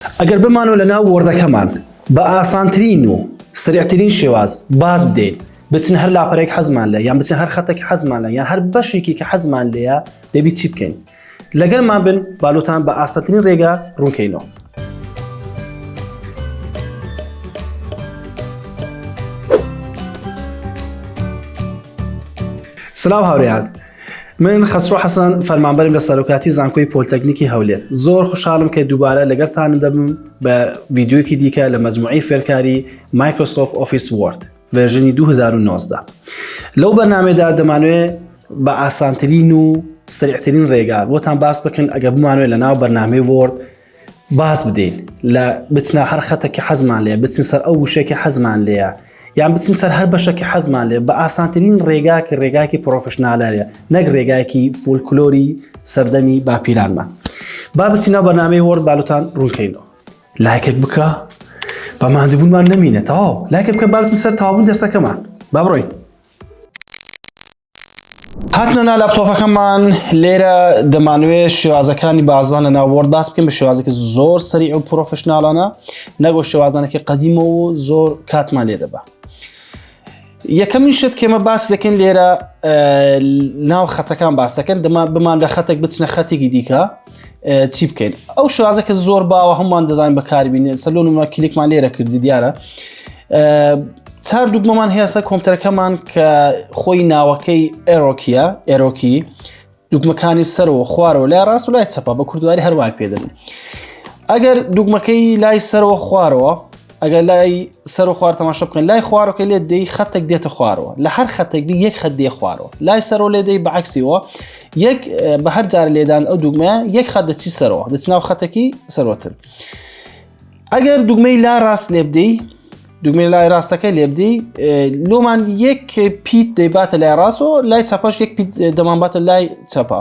ئەگەر بمانەوە لە ناو وۆردەکەمان بە ئاسانترین و سرعترین شێواز باز بدەین بچن هەر لاپەرێک حەزمان لە یان بچن هەر خەتێک حەزمان لە یان هەر بەشێکی کە حەزمان لەیە دەبی چی بکەین لەگەرمان بن بالوتان بە ئاستترین ڕێگا ڕوونکەینەوە سلااو هاوریان من خەسرۆ حەسەن فەرمانبەرم لە سەرۆکاتی زانکۆی پۆلتەکنیکی هەولێر زۆر خوشحالم کە دووبارە لەگەرتان دەبم بە ویددیوکی دیکە لە مجموعی فێرکاری مایکرۆسۆف ئۆفیس وارد ڤێژنی 2019 لەو بەرنمێدا دەمانوێت بە ئاسانترین و سریعترین ڕێگا بۆتان باس بکەن ئەگە بمانوێت لە ناو بەرنامی وۆرد باز بدەین لە بچنە هەر خەتەکی حەزمان لێ بچین سەر ئەو وشێکی حەزمان لێە یان بچین سەر هەر بەشەکی حەزمان لێ بە ئاسانترین ڕێگاکی ڕێگاکی پرۆفشنالەرە نەک ڕێگایکی فولکلۆری سەردەمی باپیرانمان با بچینە بەنامەی وەرد بالوتان ڕوونکەینەوە لایکێک بکە بە مادبوونمان نمینێتەوە لایکە بکە باچی سەر تاون دەرسەکەمان با بڕۆین هاتنە نا لاپتۆپەکەمان لێرە دەمانوێ شێوازەکانی بازان لە ناوەرد باس بکەین بە شێوازێکی زۆر سەری ئەو پرۆفشنناڵانە نەگۆ شێوازانەکە قەدیمە و زۆر کاتمان لێ دەبە یەکەمین شت کێمە باس دەکەین لێرە ناو خەتەکان باسەکەن دەما بمان لە خەتێک بچنە خەتێکی دیکە چی بکەین ئەو شازەکە زۆر باوە هەمووان دەزانین بەکاربیین سەلۆنمە کلیکمان لێرە کردی دیارە چار دوگمەمان هێسە کۆمپتەرەکەمان کە خۆی ناوەکەی ئێرۆکیە ئێرۆکی دوگمەکانی سەرەوە خوارەوە لای ڕاست و لای چەپە بە کوردواری هەروای پێدەن ئەگەر دوگمەکەی لای سەرەوە خوارەوە ئەگەر لای سەر و خوار تەماشا بکەن لای خوارەکە لێ دەی خەتێک دێتە خوارەوە لە هەر خەتێک بی یەک خەت دێ خوارەوە لای سەرۆ لێ دەی بەعکسیەوە یەک بە هەر جار لێدان ئەو دوگمە یەک خەت دەچی سەرەوە دەچ ناو خەتەکی سەرۆتر ئەگەر دوگمەی لا ڕاست لێ بدەی دوگمەی لای ڕاستەکە لێ بدەی لۆمان یەک پیت دەیباتە لای ڕاستەوە لای چاپەش یەک پیت دەمانباتە لای چاپە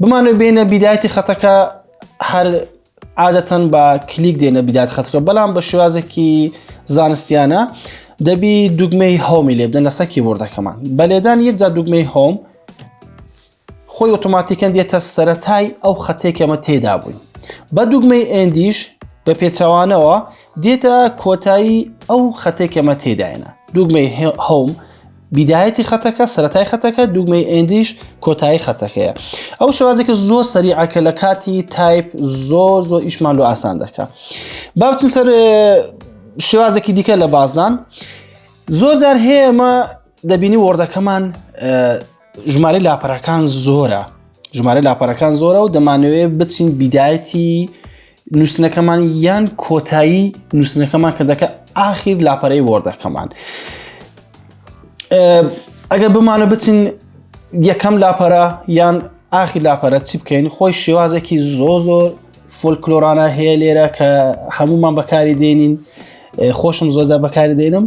بمانەوە بێنە بیدایەتی خەتەکە هەر عادەتەن بە کلیک دێنە بیدات خەتەکە بەڵام بە شێوازێکی زانستیانە دەبی دوگمەی هۆمی لێ بدەن لەسەر کیبۆردەکەمان بە لێدان یەک جا دوگمەی هۆم خۆی ئۆتۆماتیکەن دێتە سەتای ئەو خەتێکەمە تێدا بووین بە دوگمەی ئەندیش بە پێچەوانەوە دێتە کۆتایی ئەو خەتێکەمە تێداێنە دوگمەی هۆم بیدایەتی خەتەکە سەتای خەتەکە دوگمەی ئەندیش کۆتایی خەتەکەیە ئەو شوازێکە زۆر سەریعکە لە کاتی تایپ زۆر زۆر ئیشمان لە ئاسان دەکە باوچین سەر شێوازێکی دیکە لە بازدان زۆر جار هەیە ئەمە دەبینی وەردەکەمان ژمارە لاپەرەکان زۆرە ژمارە لاپەرەکان زۆرە و دەمانوێت بچین بیدایەتی نووسنەکەمان یان کۆتایی نووسنەکەمان کە دەکە ئاخیر لاپەرەی وەردەکەمان ئەگەر بمانە بچین یەکەم لاپەرە یان ئاخی لاپەرە چی بکەین خۆی شێوازێکی زۆ زۆر فۆلکلۆرانە هەیە لێرە کە هەمومان بەکاری دێنین خۆشم زۆزە بەکاری دێنم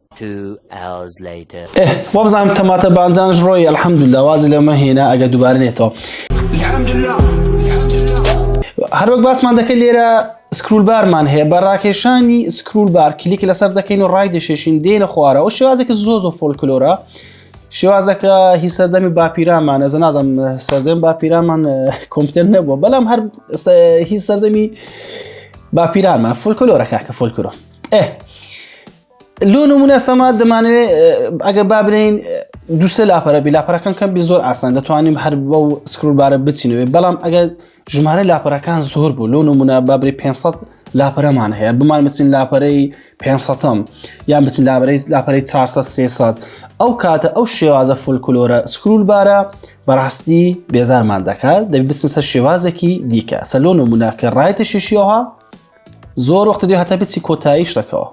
ئێه وابزانم تەماتە بانجانش ڕۆی الحمدللە وازی لەمە هێنا ئەگە دووبارە نێتەوە هەروەک باسمان دەکەن لێرە سکرول بارمان هەیە بە ڕاکێشانی سکرول بار کلیک لەسەر دەکەین و ڕای دەشێشین دێنە خوارەوە شێوازێکی زۆ زۆ فۆلکلۆرە شێوازەکە هی سەردەمی باپیرامانە زە نازم سەردەم باپیرامان کۆمپیوتەر نەبووە بەڵام هەر هی سەردەمی باپیرانمان فۆلکلۆرە کاکە فۆلکلۆر ئێ لۆ نمونە سەما دەمانێ ئەگەر با بنین دووسێ لاپەرە بی لاپەرەکان کەم بی زۆر ئاسان دەتوانین هەر بە و سکرولبارە بچینەوێ بەڵام ئەگەر ژمارە لاپەرەکان زۆر بوو لۆ نمونە بابری 500 لاپەرەمان هەیە بمان بچین لاپەرەی 500م یان بچین لابرەی لاپەرەی 400 ئەو کاتە ئەو شێوازە فولکلۆرە سکرول بارە بەڕاستی بێزارمان دەکات دەبی بسن سەر شێوازێکی دیکە سەلۆن و مناکە ڕایتە شیشیەوە زۆر وەختە دێ هەتا بچی کۆتایی شتەکەەوە.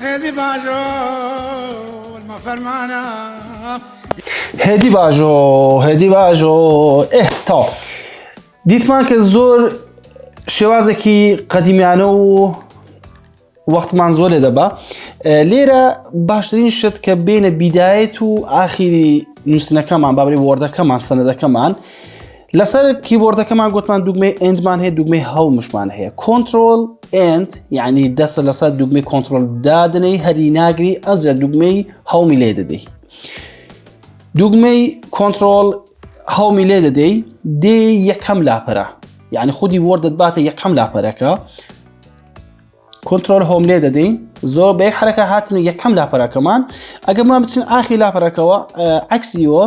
هێدی باژۆ فەرمانە هێدی باژۆ هێدی باژۆ ئێه تا دیتمان کە زۆر شێوازێکی قەدیمیانە و وەختمان زۆر لێ دەبا لێرە باشترین شت کە بێنە بیدایەت و ئاخیری نووسنەکەمان بابری وەردەکەمان سەنەدەکەمان لەسەر کیبۆردەکەمان گوتمان دوگمەی ئەندمان هەیە دوگمەی هەڵمشمان هەیە کۆنتترۆل ئەند یعنی دەسە لەسەر دوگمەی کۆنتترۆل دادنەی هەری ناگری ئەجە دوگمەی هەڵمی لێ دەدەی دوگمەی کۆنتترۆل هەڵمی لێ دەدەی دێ یەکەم لاپەرە یعنی خودی وەردەت باتە یەکەم لاپەرەکە کۆنتترۆل هۆم لێ دەدەین زۆر بێ حرەکە هاتن و یەکەم لاپەرەکەمان ئەگەمان بچین ئاخی لاپەرەکەەوە عکسیەوە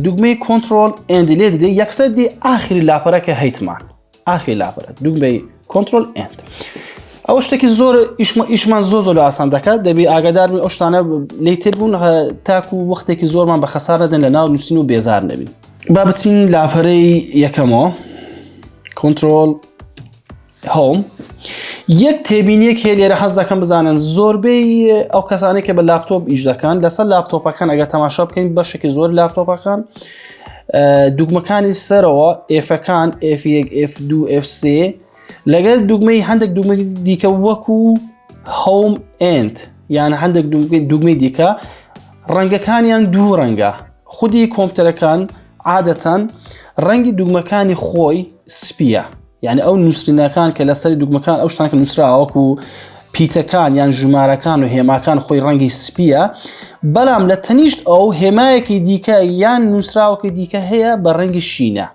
دوگمەی کۆنتترۆل ئەندی لێ دەدەین یەکسەر دی ئاخری لاپەرەکە هەیتمان ئاخی لاپەرە دوگمەی کۆنتترۆل ئەند. ئەو شتێکی زۆر ئیشمان زۆ زۆر لە ئاسان دەکات دەبی ئاگادار ئەو شتانە لی تر بوون تاکو و وەختێکی زۆرمان بە خەسار نەدەن لە ناو نووسین و بێزار نەبین با بچین لاپەرەی یەکەمەوە کۆنتترۆل هۆم یەک تێبینیەک هەیە لێرە حەز دەکەم بزانن زۆربەی ئەو کەسانی کە بە لاپتۆپ ئیش دەکەن لەسەر لاپتۆپەکان ئەگە تەماشا بکەین بەشێکی زۆر لاپتۆپەکان دوگمەکانی سەرەوە ئفەکان F1 F2 F3 لەگەر دوگمەی هەندێک دوگمە دیکە وەکو هەوم ئند یان هەندێک دوگمەی دیکە ڕەنگەکانیان دوو ڕەنگە خودی کۆمپتەرەکان عادەتەن ڕەنگی دوگمەکانی خۆی سپیە یعنی ئەو نووسینەکان کە لەسەری دوگمەکان ئەو شتان کە نووسراوەکو پیتەکان یان ژمارەکان و هێماکان خۆی ڕەنگی سپیە بەڵام لە تەنیشت ئەو هێمایەکی دیکە یان نووسراوەکە دیکە هەیە بە ڕەنگی شینە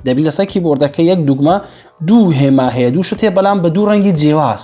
دەبی لەسەر کیبۆردەکە یەک دوگمە دوو هێما هەیە دوو شت هەیە بەڵام بە دوو ڕەنگی جیاواز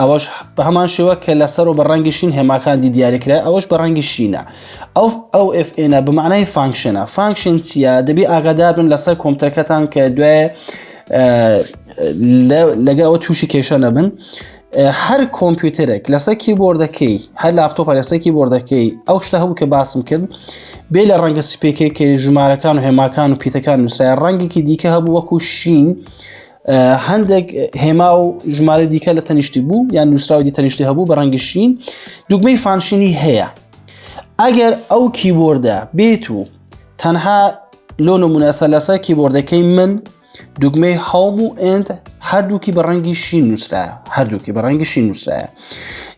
ئەوەش بە هەمان شێوە کە لەسەر و بە ڕەنگی شین هێماکاندی دیاریکرا ئەوەش بە ڕەنگی شینە ئەو ئەو FNە بە معنای فانکشنە فانکشن چییە دەبی ئاگاداربن لەسەر کۆمپتەکەتان کە دوای لەگە ئەوە تووشی کێشە نەبن هەر کۆمپیوتەرێک لەسەر کیبۆردەکەی هەر لاپتۆپە لەسەر کیبۆردەکەی ئەو شتە هەبوو کە باسم کرد بێ لە ڕەنگە سپێکەکەی ژمارەکان و هێماکان و پیتەکان نووسای ڕەنگێکی دیکە هەبوو وەکو شین هەندێک هێما و ژمارە دیکە لە تەنیشتی بوو یان نووسراوی تەنیشتی هەبوو بە ڕەنگی شین دوگمەی فانشینی هەیە ئەگەر ئەو کیبۆردە بێت و تەنها لۆن و مناسە لەسەر کیبۆردەکەی من دوگمەی هەڵم و ئند هەردووکی بە ڕەنگی شین نووسرایە هەردووکی بە ڕەنگی شین نووسرایە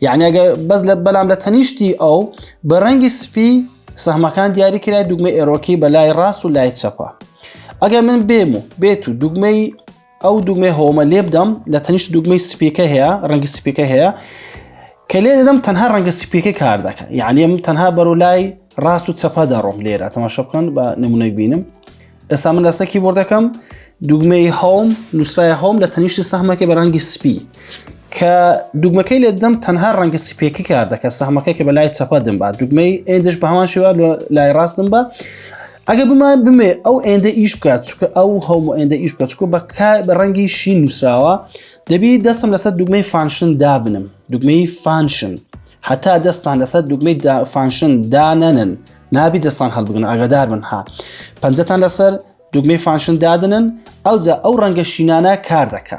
یعنی ئەگە بەس لە بەلام لە تەنیشتی ئەو بە ڕەنگی سپی سەحمەکان دیاری کرای دوگمە ئێرۆکی بە لای ڕاست و لای چەپە ئەگەر من بێم و بێت و دوگمەی ئەو دوگمەی هۆمە لێ بدەم لە تەنیشت دوگمەی سپیکە هەیە ڕەنگی سپیکە هەیە کە لێ دەدەم تەنها ڕەنگە سپیکە کار دەکەن یعنی من تەنها بەرو لای ڕاست و چەپە دەڕۆم لێرە تەماشا بکەن بە نمونەی بینم ئێستا من لەسە کیبۆردەکەم دوگمەی هەوم نووسرای هەوم لە تەنیشتی سەحمەکە بە ڕەنگی سپی کە دوگمەکەی لێ دەم تەنها ڕەنگە سپێکی کار دەکە سەحمەکە کە بە لای چەپە دم بە دوگمەی ئێندش بە هەمان شێوا لای ڕاستم بە ئەگە بمان بمێ ئەو ئێندە ئیش بکات چکە ئەو هەموو ئێندە ئیش بکە چکە بە بە ڕەنگی شی نووسراوە دەبی دەستم لەسەر دوگمەی فانشن دابنم دوگمەی فانشن هەتا دەستان لەسەر دوگمەی فانشن دانەنن نابی دەستان هەڵبگن ئاگادار من ها پەنجەتان لەسەر دوگمەی فانشن دادنن ئەوجا ئەو ڕەنگە شینانە کار دەکە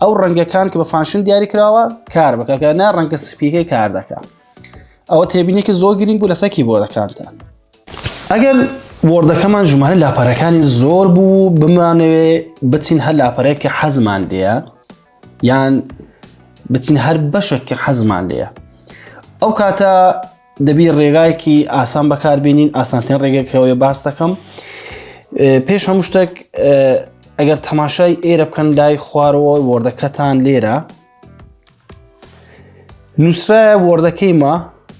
ئەو ڕەنگەکان کە بە فانشن دیاری کراوە کار بکەکە نا ڕەنگە سپیەکەی کار دەکە ئەوە تێبینێکی زۆر گرنگ بوو لەسەکی بۆ دەکاتە ئەگەر وردەکەمان ژمارە لاپەرەکانی زۆر بوو بمانەوێ بچین هەر لاپەرێک کە حەزمان لێە یان بچین هەر بەشێک کە حەزمان لێە ئەو کاتە دەبی ڕێگایەکی ئاسان بەکاربیێنین ئاسانترین ڕێگەکەوەی باس دەکەم پێش هەموو شتێک ئەگەر تەماشای ئێرە بکەن لای خوارەوە وردەکەتان لێرە نووسراە وردەکەی ما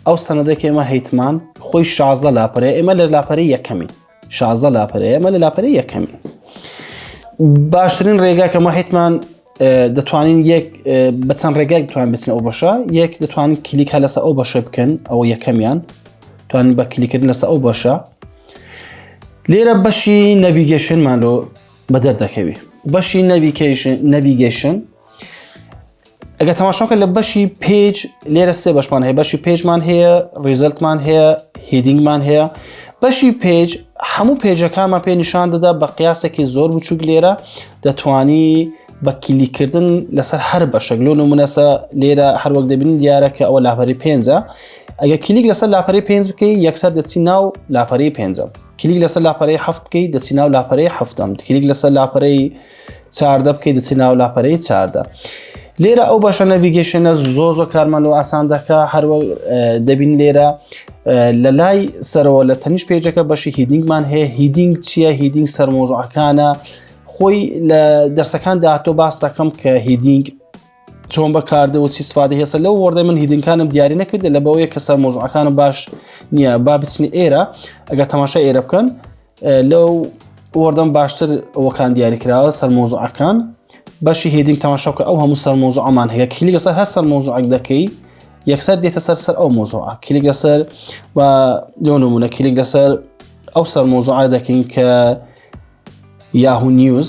ئەو سەنەدەکەێمە هەیتمان خۆی شازە لاپەرە ئێمە لە لاپەری یەکەمی شازە لاپەرەیە مە لە لاپەرە یەکەمین باشترین ڕێگا کە مەحیتمان دەتوانین یەک بە چەند ڕێگای توان بچن ئەو بەشە یەک دەتوانین کلیک هە لەسە ئەو بەشێ بکەن ئەوە یەکەمیان توان بە کلیکردن لەسە ئەو بەشە لێرە بەشی نەڤیگەشنمان لۆ بەدەر دەکەوی بەشی نەویکەشن نەڤیگەشن ئەگە تەماشاکە لە بەشی پێج لێرە سێ بەشمان هەیە بەشی پێجمان هەیە ریزلتمان هەیە هیدینگمان هەیە بەشی پێج هەموو پێجەکانمان پێ نیشان دەدا بە قیاسێکی زۆر بچووک لێرە دەتانی بە کلیکردن لەسەر هەر بەشەک لۆن و منەسە لێرە هەروەک دەبین دیارەکە ئەوە لاپەری پێنجە ئەگە کلیک لەسەر لاپەری پێنج بکەی یەکسەر دەچی ناو لاپەری پێنجە کلیک لەسەر لاپەرەی هەفت بکەی دەچی ناو لاپەرەی هەفتم کلیک لەسەر لاپەرەی چاردە بکەیت دەچی ناو لاپەرەی چاردە لێرە ئەو بەشە نەڤگەشنە زۆ زۆ کارمان لەوە ئاسان دەکە هەروە دەبین لێرە لە لای سەرەوە لە تەنیش پێجەکە بەشی هیدینگمان هەیە هیدینگ چییە هیدینگ سەرمۆزعەکانە خۆی لە دەرسەکان داهاتۆ باس دەکەم کە هیدینگ چۆن بەکاردە و سیسفادی هێسە لەو وەردە من هیدنکانم دیاری نەکردە لە بەوەیە کەسە مۆزعەکانم باش نییە با بچنی ئێرە ئەگەر تەماشا ئێرە بکەن لەو وەردەم باشتر ئەوەکان دیاری کراوە سەر مۆزعەکان بەشی هێدینگ تەماشاکە ئەو هەموو سەر مۆزعمان هەیە کلی لەسەر هەر سەر مۆزعک دەکەی یەکسەر دێتە سەر سەر ئەو مۆزوع کلیک لەسەر و لۆنمونە کلیک لەسەر ئەو سەر مۆزوع دەکەین کە یاهو نیوز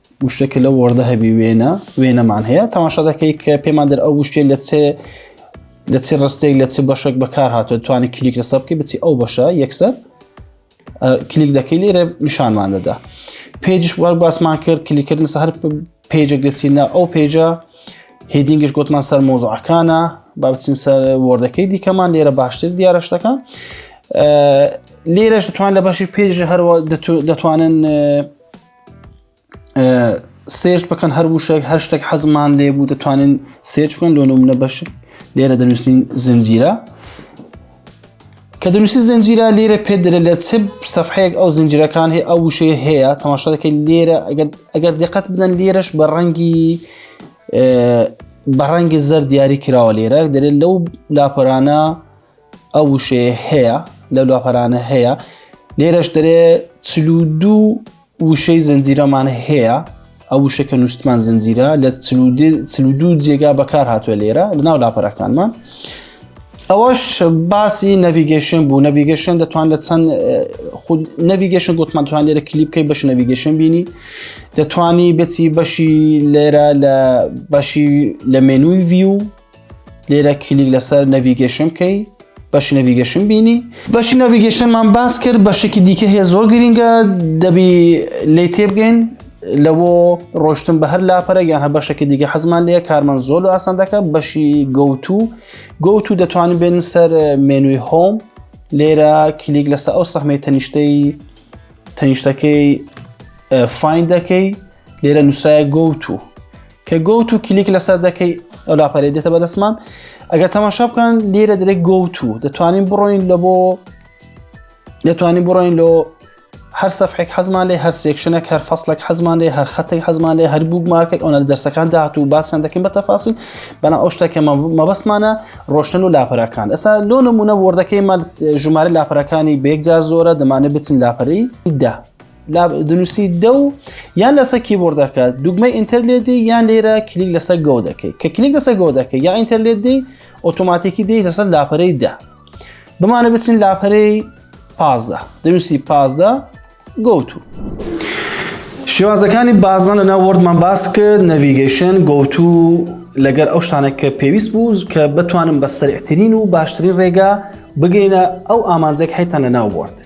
وشتێک کە لە وەردە هەبی وێنە وێنەمان هەیە تەماشا دەکەی کە پێمان دەر ئەو وشتێ لە چێ لە چی ڕستێک لە چ بەشێک بەکار هاتووە توانانی کلیک لەسەر بکە بچی ئەو بەشە یەکسەر کلیک دەکەی لێرە نیشانمان دەدا پێجش وەر باسمان کرد کلیکردن سەر پێجێک دەچینە ئەو پێجە هێدینگش گوتمان سەر مۆزعەکانە با بچین سەر وەردەکەی دیکەمان لێرە باشتر دیارە شتەکە لێرەش دەتوان لە بەشی پێژ هەروە دەتوانن سێرچ بکەن هەر وشێک هەر شتێک حەزمان لێ بوو دەتوانین سێرچ بکەن لۆ نمونە بەش لێرە دەنووسین زنجیرە کە دەنووسی زنجیرە لێرە پێ درە لە چ سەفحەیەک ئەو زنجیرەکان هەیە ئەو وشەیە هەیە تەماشا دەکەین لێرە ئەگەر دقت بدەن لێرەش بە ڕەنگی بە ڕەنگی زەر دیاری کراوە لێرە دەێت لەو لاپەرانە ئەو وشەیە هەیە لە لاپەرانە هەیە لێرەش دەرێ چل و دوو وشەی زنجیرەمان هەیە ئەو وشەکە نووسمان زنجیرە لە چل و دوو جێگا بەکار هاتووە لێرە لە ناو لاپەرەکانمان ئەوەش باسی نەڤگەشن بوو نەڤگەشن دەتوان لە چەند خود نەڤگەشن گوتمان توان لێرە کلیپکەی بەش نەڤگەشن بینی دەتوانی بچی بەشی لێرە لە بەشی لە مێنووی ڤیو لێرە کلیک لەسەر نەڤیگەشن بکەی بەشی نەڤیگەشن بینی بەشی نەڤیگەشنمان باس کرد بەشێکی دیکە هەیە زۆر گرینگە دەبی لی تێبگەین لەوە ڕۆشتن بە هەر لاپەرە یان هە بەشەکە دیگە حەزمان لە کارمان زۆر لە ئاسان دەکە بەشی گوتو گوتو دەتوانین بێن سەر مێنوی هۆم لێرە کلیک لەسەر ئەو سەحمەی تەنیشتەی تەنیشتەکەی فین دەکەی لێرە نووسایە گوتو کە گۆت و کلیک لەسەر دەکەی ئەو لاپەرێ دێتە بەدەستمان ئەگەر تەماشا بکەن لێرە درێک گۆت و دەتوانین بڕۆین لە بۆ دەتوانین بڕۆین لۆ هەر سەفحێک حەزمان لێ هەر سێکشنێک هەر فەصلێک حەزمان لێ هەر خەتێک حەزمان لێ هەر بوو مارکێک ئەوە دەرسەکان داهات و باسیان دەکەین بە تەفاسیل بەنا ئەو شتەکە مەبەستمانە ڕۆشتن و لاپەرەکان ئەسا لۆ نمونە وردەکەی مە ژمارە لاپەرەکانی بێکجار زۆرە دەمانێت بچین لاپەری دا دنووسی دە و یان لەسەر کیبۆرد دەکات دوگمە ئینتەرلێدی یان لێرە کلیک لەسەر گۆ دەکەیت کە کلیک لەسەر گۆ دەکەی یا ئینتەرلێدی ئۆتۆماتیکی دی لەسەر لاپەرەی دە بمانە بچین لاپەرەی پازدە دەنووسی پازدە گوتو شێوازەکانی بازان لەنا وەردمان باس کرد نەڤیگەشن گوتو لەگەر ئەو شتانە کە پێویست بوو کە بتوانم بە سەرعترین و باشترین ڕێگا بگەینە ئەو ئامانجێک حیتان لە ناو بوارد